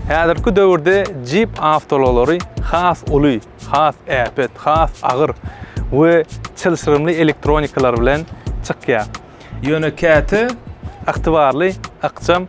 Häzirki döwürde Jeep awtoulaglary has uly, has äpet, has agyr we çylşyrymly elektronikalary bilen çykýar. Ýöne käte ygtybarly, ykjam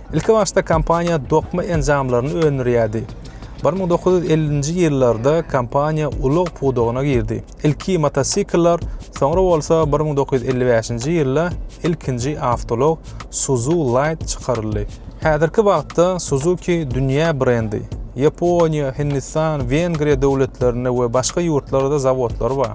Ilki başda kompaniýa dokma enjamlaryny öndürýärdi. Bir müň dokuz ýüz ellinji ýyllarda kompaniýa ulag pudagyna girdi. Ilki motosikllar, soňra bolsa bir müň dokuz ýüz elli bäşinji ýylda ilkinji awtoulag Suzu Light çykaryldy. Häzirki wagtda Suzuki dünýä brendi. Ýaponiýa, Hindistan, Wengriýa döwletlerinde we başga ýurtlarda zawodlary bar.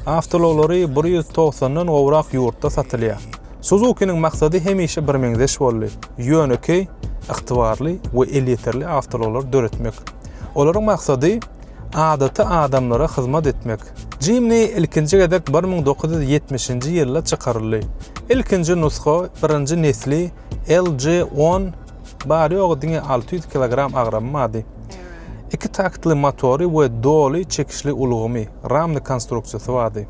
Awtoulaglary bir ýüz togsandan gowrak ýurtda satylýar. Suzukiniň maksady hemişe birmeňzeş boldy, ýönekeý, ygtybarly we elýeterli awtoulaglar döretmek. Olaryň maksady adaty adamlara hyzmat etmek. Jimni ilkinji gezek bir müň dokuz ýüz ýetmişinji ýylda çykaryldy. Ilkinji nusga, birinji nesli, LG on, bary-ýogy diňe alty ýüz kilogram agramy bardy. Iki taktly motory we doly çekişli ulgamy, ramny konstruksiýasy bardy.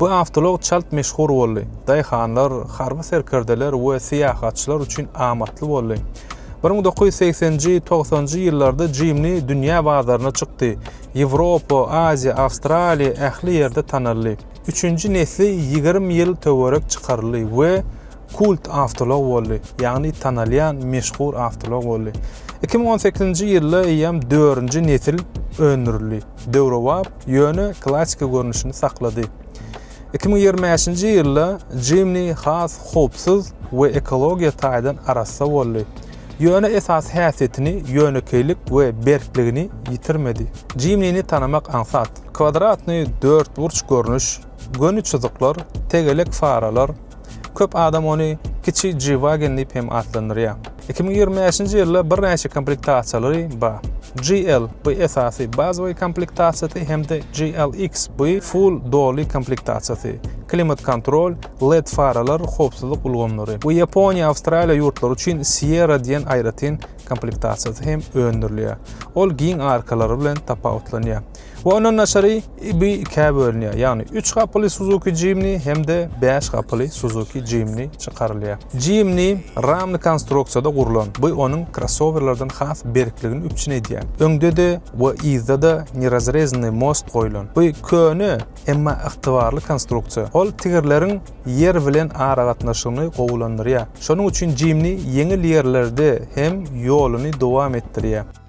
Bu awtoulag çalt meşhur boldy. Daýhanlar, harby serkerdeler we syýahatçylar üçin amatly boldy. Bir müň dokuz ýüz segseninji, togsanjy ýyllarda Jimni dünýä bazaryna çykdy. Ýewropa, Aziýa, Awstraliýa, ähli ýerde tanaldy. Üçünji nesli ýigrimi ýyl töwerek çykaryldy we kult awtoulag boldy, ýagny tanalýan meşhur awtoulag boldy. Iki müň on sekizinji ýylda eýýäm dördünji nesil öndürildi. Döwrebap ýöne klassyky görnüşini saklady. Iki müň ýigrimi bäşinji ýylda Jimny has howpsuz we ekologiýa taýdan arassa boldy, ýöne esasy häsiýetini, ýönekeýlik we berkligini ýitirmedi. Jimnini tanamak aňsat. Kwadratny dörtburç görnüş, göni çyzyklar, tegelek faralar, Köp adam ony kiçi G-Wagen diýip hem atlandyrýar. Iki müň ýigrimi bäşinji ýylda birnäçe komplektasiýalary bar. GL, bu esasy, bazawyý komplektasiýasy hem-de GLX, bu full, doly, komplektasiýasy. Klimat-kontrol, led faralar, howpsuzlyk ulgamlary. Bu Ýaponiýa, Awstraliýa ýurtlary üçin Sierra diýen aýratyn komplektasiýasy hem öndürilýär. Ol giň arkalary bilen tapawutlanýar. We ondan daşary bu ikä bölünýär. Ýagny üç gapyly Suzuki Jimny hem-de bäş gapyly Suzuki Jimny çykarylýar. Jimny ramly konstruksiýada gurlan. Bu onuň krossowerlerden has berkligini üpjün edýär. Öňde-de we yzda-da nerazrezannyý most goýlan. Bu köne, emma ygtybarly konstruksiýa. Ol tigirleriň ýer bilen aragatnaşygyny gowulandyrýar. Şonuň üçin Jimny ýeňil ýerlerde hem ýoluny dowam etdirýär.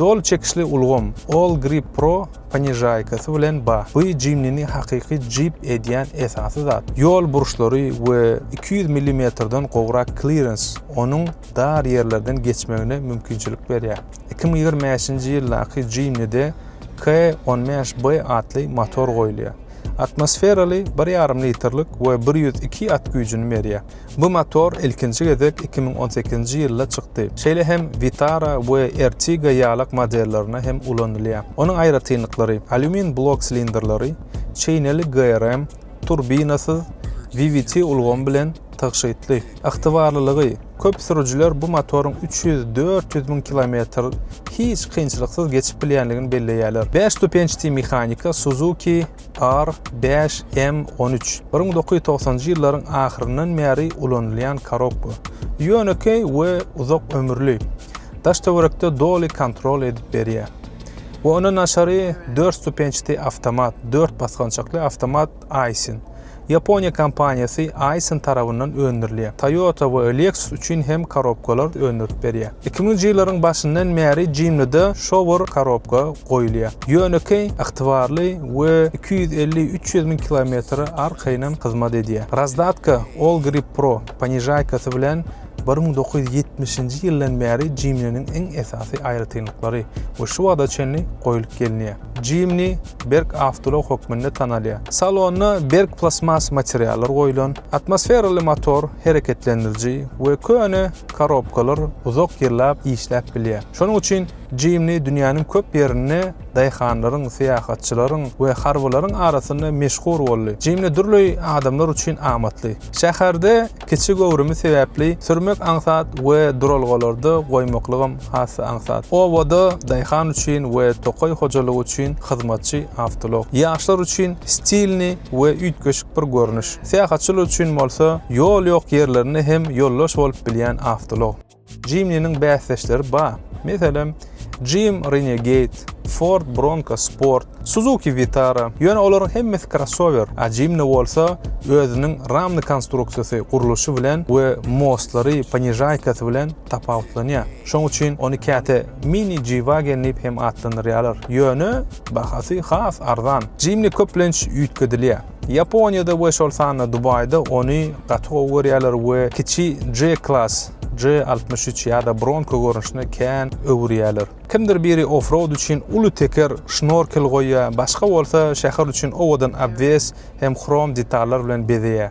Doly çekişli ulgam All Grip Pro ponižaýkasy bilen ba. Bu Jimnini hakyky Jeep edýän esasy zat. Ýol burçlary we iki ýüz millimetrden gowrak klirens onuň dar ýerlerden geçmegine mümkinçilik berýär. Iki müň ýigrimi bäşinji ýyldaky Jimnide K on bäş B atly motor goýulýar. Atmosferaly bir ýarym litrlik we bir ýüz iki at güýjüni berýär. Bu motor ilkinji gezek iki müň on sekizinji ýylda çykdy. Şeýle hem Vitara we Ertiga ýalak modellerine hem ulanylýar. Onuň aýratynlyklary, alýumin blok silindrleri, çeýneli GRM, turbinasyz, VVT ulgamy bilen, Tygşytly, ygtybarlylygy, köp sürüjiler bu motoryň üç ýüz, dört ýüz müň kilometr hiç kynçylyksyz geçip bilýändigini belleýärler. Bäş stupençdi mehanika Suzuki R bäş M on üç, bir müň dokuz ýüz togsanjy ýyllaryň ahyryndan bäri ulanylýan korobka. Ýönekeý we uzak ömürli. Daş-töwerekde doly kontrol edip berýär. We ondan daşary dört stupençdi awtomat, dört basgançakly awtomat. Aisin. Ýaponiýa kompaniýasy Aisin tarabyndan öndürilýär. Toyota we Lexus üçin hem korobkalar öndürip berýär. Iki müňünji ýyllaryň başyndan bäri Jimnide şowur korobka goýulýar. Ýönekeý, ygtybarly we iki ýüz elli, üç ýüz müň kilometre arkaýynam hyzmat edýär. Razdatka, All Grip Pro ponižaýkasy bilen Bir müň dokuz ýüz ýetmişinji ýyldan bäri Jimniniň iň esasy aýratynlyklary we şu wagta çenli goýlup gelinýär. Jimni berk awtoulag hökmünde tanalýar. Salonda berk plastmas materiallar goýlan, atmosferaly motor, hereketlendiriji we köne korobkalar uzak ýyllap işläp bilýär. Şonuň üçin Jimni dünýäniň köp ýerinde daýhanlaryň, syýahatçylaryň we harbylaryň arasynda meşhur boldy. Jimni dürli adamlar üçin amatly. Şäherde Kiçi göwrümi sebäpli sürmek aňsat we duralgalarda goýmaklygam has-da aňsat. Obada daýhan üçin we tokaý hojalygy üçin hyzmatçy awtoulag. Ýaşlar üçin stilni we üýtgeşik bir görnüş. Syýahatçylar üçin bolsa ýol ýok ýerlerinde hem ýoldaş bolup bilýän awtoulag. Jimniniň bäsdeşleri bar. Meselem, Jim Renegade, Ford Bronco Sport, Suzuki Vitara. Ýöne olaryň hemmesi krossower, a Jimny bolsa özüniň ramly konstruksiýasy, gurluşy bilen we mostlary, ponižaýkasy bilen tapawutlanýar. Şoň üçin ony käte Mini G-Wagen diýip hem atlandyrýarlar. Ýöne bahasy has arzan. Jimny köplenç üýtgedilýär. Ýaponiýada we şol sanda Dubaýda ony gaty gowy görýärler we kiçi G-Class, G-63 ýa-da Bronco görnüşine kän öwürýärler. Kimdir biri offroad üçin uly teker, şnorkel goýýar, başga bolsa şäher üçin owadan obwes hem hrom detallar bilen bezeýär.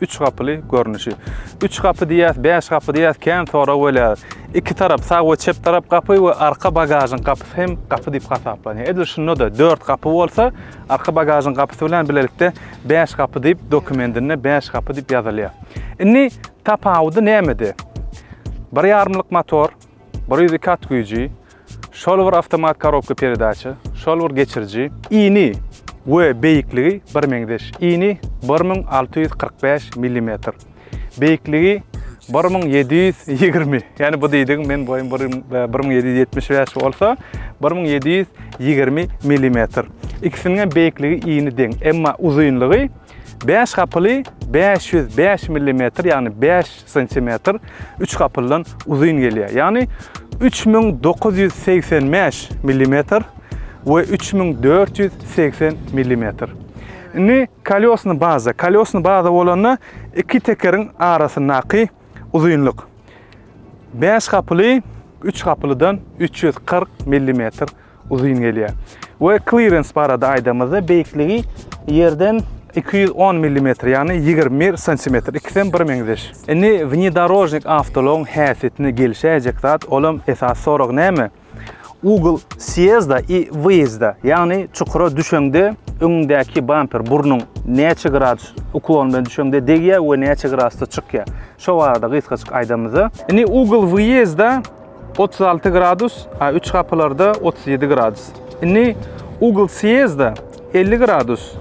Üç gapyly görnüşi. Üç gapy diýýäs, bäş gapy diýýäs, kän sorag bolýar. Iki tarap, sag we çep tarap gapy we arka bagažyň gapysy hem gapy diýip hasaplanýar. Edil şunda-da dört gapy bolsa, arka bagažyň gapysy bilen bilelikde bäş gapy diýip dokumendinde bäş gapy diýip ýazylýar. Indi tapawudy nämede? Bir ýarymlyk motor, Bir ýüzi kat güýji, şol bir awtomat korobka peredaça, şol bir geçiriji. Ini we beýikligi birmeňzeş. Ini bir müň alty ýüz kyrk bäş millimetr. Beýikligi bir müň ýedi ýüz ýigrimi. Ýani bu diýdigiň men boýum bir müň ýedi ýüz ýetmiş bäş bolsa, bir müň ýedi ýüz ýigrimi millimetr. Ikisiniňem beýikligi ini deň. Emma uzynlygy bäş gapyly bäş ýüz bäş millimetr, ýagny bäş Santimetr üç gapyldan uzyn gelýär. Ýagny üç müň dokuz ýüz segsen bäş millimetr we üç müň dört ýüz segsen millimetr. Indi kolýosny baza. Kolýosny baza bolanda iki tekeriň arasyndaky uzynlyk bäş gapyly üç gapylydan üç ýüz kyrk millimetr Uzyn gelýär. We clearance barada aýdamyzda beýikligi ýerden 210 millimetr, ýagny 21 santimetr, ikisem bir meňzeş. Indi wnedorožnik awtoulagyň häsiýetine gelişäýjek zat, olam esasy sorag näme? Ugl sýezda i wyýezda, ýagny çukura düşeňde öňüňdäki bamper burnuň näçe gradus uklon bilen düşeňde degýär we näçe gradusda çykýar. Şo barada gysgaçyk aýdamyzda. Indi ugl wyýezda Otuz alty gradus, a üç gapylarda otuz ýedi gradus. Indi ugl sýezda elli gradus,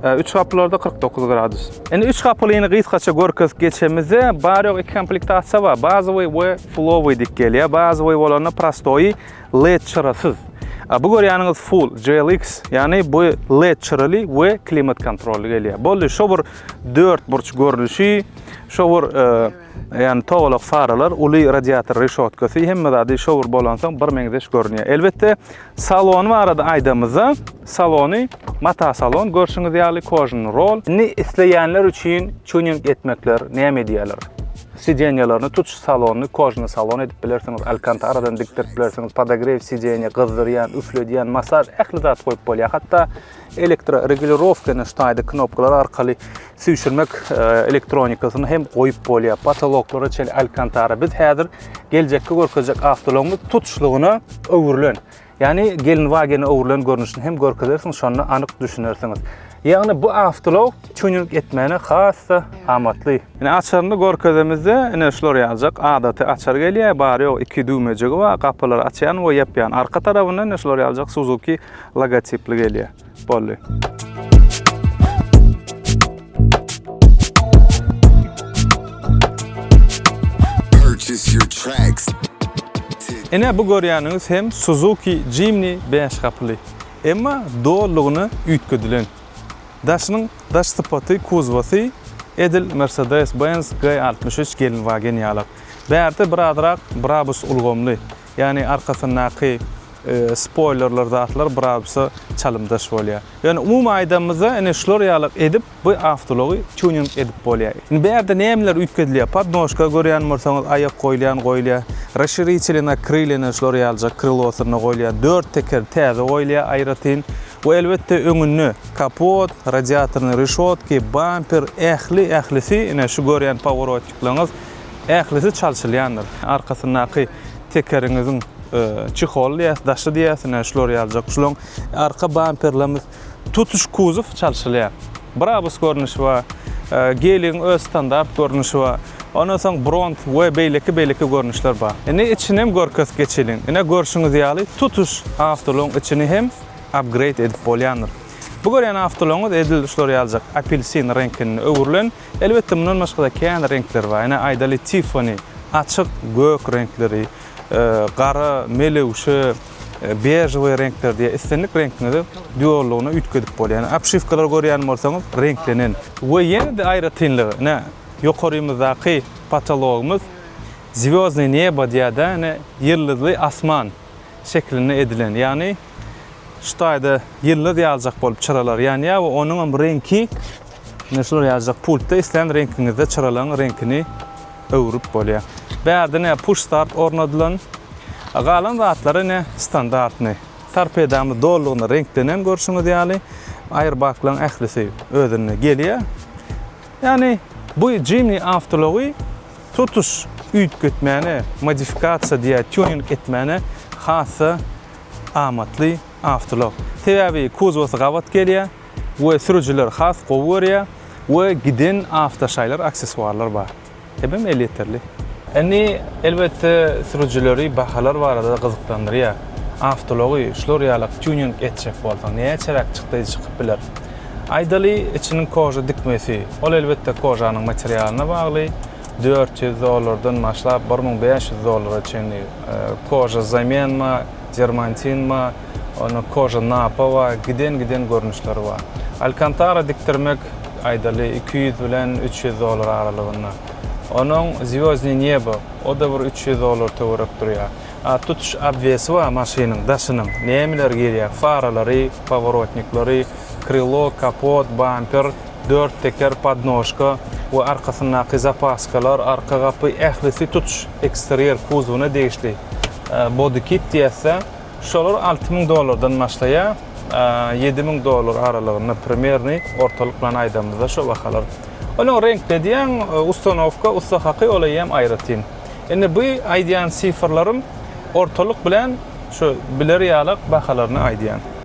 a üç gapylarda kyrk dokuz gradus. Indi üç gapylyny gysgaça görkezip geçemizde, bary-ýogy iki komplektasiýa bar, bazowy we fullowy diýip gelýär. Bazowy bolanda prostoýy led çyrasyz. A bu görýäniňiz full, GLX, ýagny bu led çyraly we klimat kontrolly gelýär. Boldy, şo bir dörtburç görnüşi, şo bir e, Ýagny togalak faralar, uly radiator reşotkasy, hemme zady şowur bolansoň birmeňzeş görünýär. Elbetde, salon barada aýdamyzda, salony mata salon, görşüňiz ýaly kožny rol. Indi isleýänler üçin tuning etmekler näme edýärler? Sidenýalaryny tutuş salony kožny salon edip bilersiňiz, alkantaradan dikdirip bilersiňiz, podogrew sidenýa, gyzdyrýan, üfledýän, masaž ähli zat goýup bolýar. Hatda Elektroregulirowkany ştaýda knopkalar arkaly süýşürmek elektronikasyny hem goýup bolýar. Potoloklara çenli alkantara. Biz häzir geljekki görkezjek awtoulagymyz tutuşlygyna öwrülen. Ýagny Gelenwagene öwrülen görnüşini hem görkezersiň, şonda anyk düşünersiňiz. Ýagny bu awtoulag tuning etmäne has-da amatly. Ine açaryny görkezemizde, ine şular ýaljak adaty açar gelýär. Bary-ýogy iki düwmejigi bar. Gapylary açýan we ýapýan. Arka tarabynda ine şular ýaljak Suzuki logotipli gelýär. Boldy. Ine bu görýäniňiz hem Suzuki Jimny bäş gapyly. Emma dolulygyna üýtgedilen. Daşynyň daş sypaty, kuzowasy edil Mercedes-Benz G-63 gelinwagen ýalak. Bärde birazrak Brabus ulgamly. Ýagny arkasyndaky spoýlerler zatlar birabsa çalymdaş bolýar. Ýöne umumy aýdanymyzda ine şular ýaly edip bu awtoulagy tuning edip bolýar. Indi bu ýerde nämeler üýtgedilýär? Podnožka görýän bolsaňyz aýak goýulýan goýulýar. Rasşiriçelina krylyna şular ýalyjak krylosynda goýulýan dört teker täze goýulýar aýratyn. We elbetde öňünde kapot, radiatornyý reşotki, bamper ähli ählisi ine şu görýän poworotiklaryňyz Ählisi çalşylýandyr. Arkasyndaky tekeriňiziň çeholy diýýäs, daşy diýýäs, ine, şular ýalyjak. Şulaň arka bamperlerimiz, tutuş kuzow çalşylýar. Brabus görnüşi bar, Geligiň öz standart görnüşi bar. Ondan soň Bront we beýleki-beýleki görnüşler bar. Indi içini hem görkezip geçeliň. Ine, görşüňiz ýaly, tutuş awtoulagyň içini hem upgrade edip bolýandyr. Bu görýän awtoulagyňyz edil şular ýalyjak apelsin reňkinde öwrülen. Elbetde mundan başgada kän reňkler bar. Ine aýdaly Tiffany, açyk gök reňkleri, gara, melewşe, bežowy reňkler diýe islendik reňkiňizi duollygyna üýtgedip bolýar. Ine obşiwkalary görýän bolsaňyz reňklenen. We ýene-de aýratynlygy ine ýokarymyzdaky potologymyz Zwýozdnyý nebo diýada ine ýyldyzly asman şeklinde edilen. Ýagny şu taýda ýyldyz ýaljak bolup çyralar ýanýar we onuňam reňki Ine şular ýazjak pultda islän reňkiňizde çyralaň reňkini öwrüp bolýar. Bärde ne push start ornadylan. Galan zatlar ine standartny. Torpedamyz dolygynda reňklenen görşüňiz ýaly. Aýrbaklan ählisi özünde gelýär. Ýani bu Jimny awtology tutuş üýtgetmäne, modifikasiýa diýýär, tuning etmäne hassa amatly awtolog. Sebäbi kuzowasy gabat gelýär. we sürüjiler has gowy görýär we giden awtoşaýlar aksessuarlar bar hemem elýeterli. Indi elbetde sürüjileri bahalar barada gyzyklandyrýar. Awtoulagy şular ýalak tuning etjek bolsaň näçeräk çykdaýy çykyp biler? Aýdaly içiniň koža dikmesi, ol elbetde kožanyň materialyna bagly, dört ýüz dollardan başlap bir müň bäş ýüz dollara çenli koža zamenma, Dermantin bar, onda Koža Napa bar, giden-giden görnüşleri bar. Alkantara dikdirmek, aýdaly, iki ýüz bilen üç ýüz dollar aralygynda. Onuň Zwýozdnyý nebo, o-da bir üç ýüz dollar töwerek durýar. A tutuş obwesi bar maşynyň, daşynyň, nämeler girýär, faralary, poworotnikleri, krylo, kapot, bamper, Dört teker, podnožka we arkasyndaky zapaskalar, arka gapy ählisi tutuş eksterýer kuzowyna degişli bodykit diýäs-de, şolar alty müň dollardan başlaýar, ýedi müň dollar aralygynda primerni, ortalyk bilen aýdamyzda şo bahalar. Onuň reňkde diýen ustanowka, ussa haky ol eýýäm aýratyn. Indi bu aýdýan sifrlarym ortalyk bilen şu biler ýalak bahalaryny aýdýan.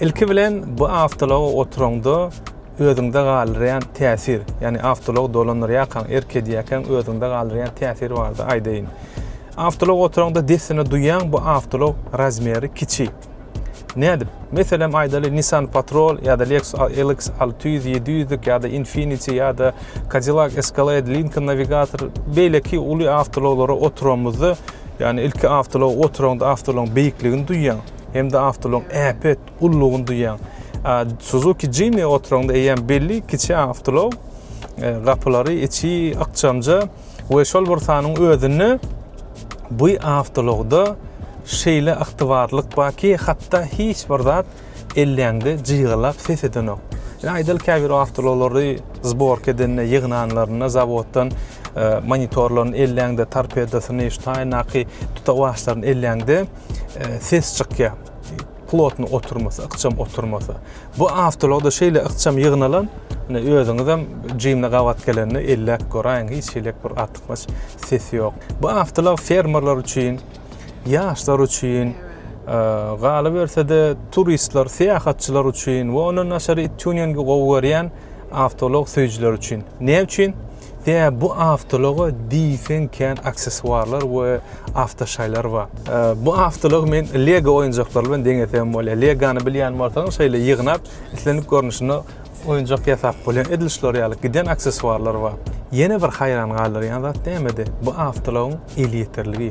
Ilki bilen bu awtology oturanda özüňde galdyrýan täsir, ýagny awtolog dolandyrýarkaň, erk edýärkäň özüňde galdyrýan täsir barada aýdaýyn. Awtolog oturanda dessine duýýaň, bu awtolog razmeri kiçi. Nädip? Meselem aýdaly Nissan Patrol ýa-da Lexus LX 600, 700-lik ýa-da Infiniti ýa-da Cadillac Escalade, Lincoln Navigator beýleki uly awtoulaglara oturanymyzda, ýagny ilki awtoulaga oturaňda awtoulagyň beýikligini duýýaň, hem-de awtoulagyň äpet ululygyny duýýaň. A Suzuki Jimny oturaňda eýýäm belli kiçi awtoulag, e, gapylary içi ykjamja, we şol bir sanyň özünde bu awtoulagda şeýle ygtybarlylyk barki, hatda hiç bir zat elläňde jygylap ses edenok. Ýa aýdaly käbir awtoulaglary zborka edende, ýygnanlarynda zawoddan e, monitorlaryny elläňde, torpedosyny, ştaýnaky tutawaçlaryny elläňde e, ses çykýar. plotno oturmasa, ykjam oturmasa. Bu awtologda şeýle ykjam ýygnalan, ine özüňiz hem jimle gabat gelende elläp göräýiň, hiç hili bir artykmaç ses ýok. Bu awtolog fermerler üçin, ýaşlar üçin, galyberse-de turistler, syýahatçylar üçin we ondan daşary tuningi gowy görýän awtolog söýüjiler üçin. Näme üçin? Ýa bu awtologa diýseň kän aksessuarlar we awtoşaýlar bar. Bu awtolog men Lego oýunjaklary bilen deňesem bolýar. Legany bilýän bolsaň şeýle ýygnap islendik görnüşinde oýunjak ýasap bolýar. Edil şular ýaly giden aksessuarlar bar. Ýene bir haýran galdyrýan zat nämede? Bu awtologyň elýeterligi.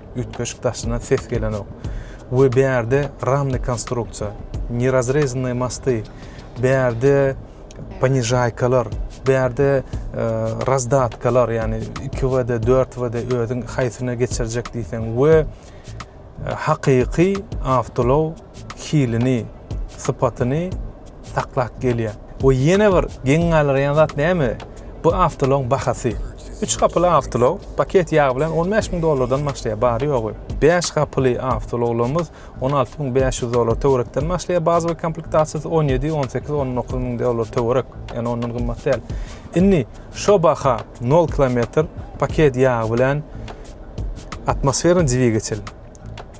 Üýtgeşik daşyndan ses gelenok. We bärde ramny konstruksiýa, nerazrezanny mosty, bärde ponižaýkalar, bärde e, razdatkalar, ýagny 2WD, 4WD özüň haýsyna geçirjek diýseň we e, hakyky awtolaw hilini sypatyny saklap gelýär. We ýene bir geň galyrýan zat näme? Bu awtoulagyň bahasy. Üç gapyly awtoulag paket ýagy bilen on bäş müň dollardan başlaýar, bary-ýogy. Bäş gapyly awtoulaglarymyz on alty müň bäş ýüz dollar töwerekden başlaýar, bazowy komplektasiýasy on ýedi, on sekiz, on dokuz müň dollar töwerek, ýagny ondan gymmat däl. Indi şo baha nol kilometr paket ýagy bilen atmosferny dwigatel.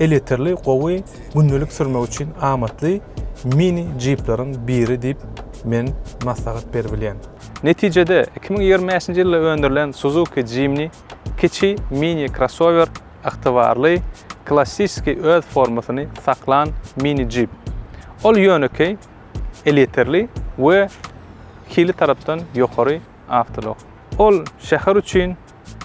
Elýeterli, gowy, gündelik sürmek üçin amatly mini jipleriň biri diýip men maslahat beribilýän. Netijede, iki müň ýigrimi bäşinji ýylda öndürilen Suzuki Jimny kiçi mini krossower ygtybarly, klassiski öz formasyny saklan mini jip. Ol ýönekeý, elýeterli we hili tarapdan ýokary awtoulag. Ol şäher üçin,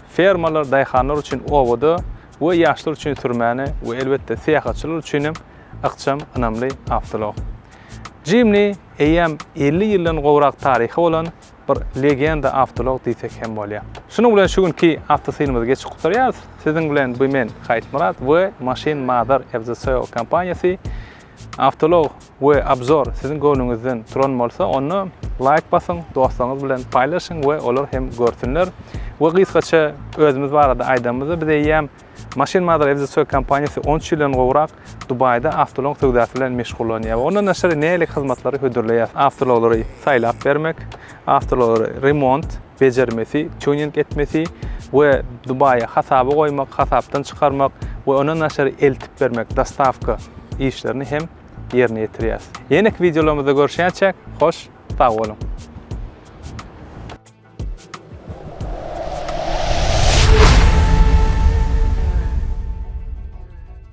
fermalar, daýhanlar üçin obada, we ýaşlar üçin sürmäne we elbetde syýahatçylar üçin hem ykjam ynamly awtoulag. Jimni eýýäm elli ýyldan gowrak taryhy bolan bir legenda awtoulag diýsek hem bolýar. Şunuň bilen şu günki awtosilimizi geçip gutarýarys. Siziň bilen by men Haýytmyrat we Maşyn Mother FZCO kompaniýasy. Awtoulag we Obzor siziň göwnüňizden turan bolsa, onda laýk basyň, dostlaryňyz bilen paýlaşyň we olar hem görsünler. We gysgaça özümiz barada aýdanymyzda, biz eýýäm Machine Mother FZSOE kompaniýasy on üç ýyldan gowrak Dubaýda awtoulag söwdasy bilen meşgullanýar we ondan daşary nähili hyzmatlary hödürleýär? Awtoulaglary saýlap bermek, Awtoulaglar remont, bejermesi, tuning etmesi we Dubaýa hasaba goýmak, hasapdan çykarmak we ondan daşary eltip bermek, dostawka, işlerini hem ýerine ýetirýäs. Ýeneki wideolarymyzda görüşýänçäk, hoş sag boluň!